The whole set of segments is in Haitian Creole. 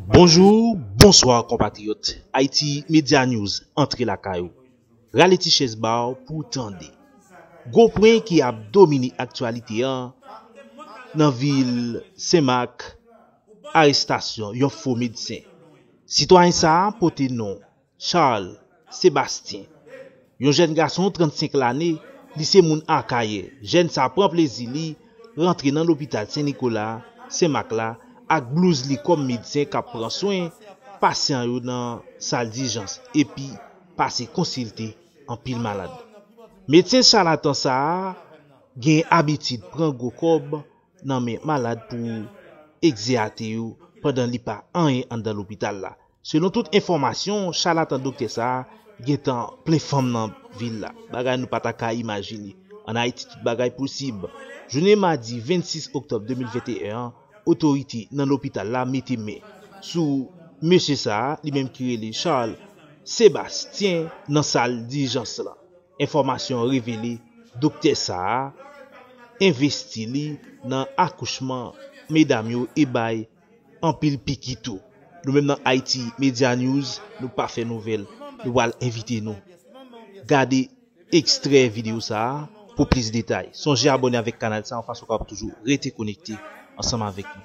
Bonjour, bonsoir konpatriyòt, Haiti Media News antre lakay ou. Rale ti chèz ba w pou w tande. Gwo pwen ki ap domine aktyalite an nan vil Senmak, arestasyon yon fo medsen. Sitwayen sa a pote non Charles Sébastien, yon jèn gason 35 lane, li se moun Akayè. Jèn sa pran plezi li rantre nan lopital Sen Nikola, Sen Mak la ak blouz li kòm medsen k ap pran swen pasyan yo nan sal dijans epi pase konsilte anpil malad. Medsen chalatan sa a gen abitid pran gwo kòb nan men malad pou egzeyate yo pandan li pa anyen anndan lopital la. Selon tout enfòmasyon, chalatan doktè sa a gen tan plen fanm nan vil la, bagay nou pa ta ka imajine. An Ayiti tout bagay posib. Jounen madi 26 oktòb 2021 an, otorite nan lopital la mete men sou mesye sa a, li menm ki rele Charles Sébastien nan sal dijans lan. Enfòmasyon an revele doktè sa a envesti li nan akouchman medam yo e bay anpil piki tou. Nou menm nan Haiti Media News nou pa fè nouvèl, nou pral envite nou. Gade ekstrè videyo sa a pou plis detay. Sonje abòne avèk kanal sa yon fason w kapab toujou rete konekte ansanm avèk nou.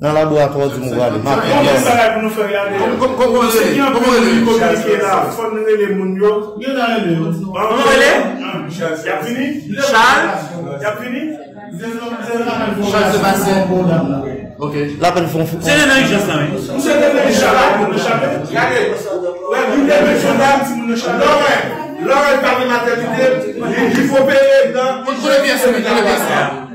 Nan laboratwa di m ou prale. M ap tann.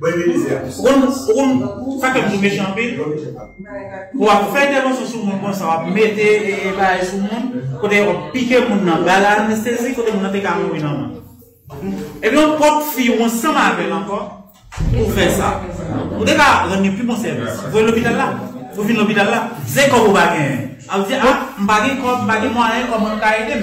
Ou konn sa fèm tou mechan anpil pou wap fè entèvansyon sou moun konsa wap mete bagay sou moun kote yo pike moun nan bal anestezi kote moun nan te ka mouri nòmal epi yon pwòp fi ou ansanm avèl ankò pou fè sa ou te ka rann li pi bon sèvis voye lopital la ou vin lopital la se kòb ou pa genyen ap di a m pa gen kòb m pa gen mwayen kòman nou ka edem.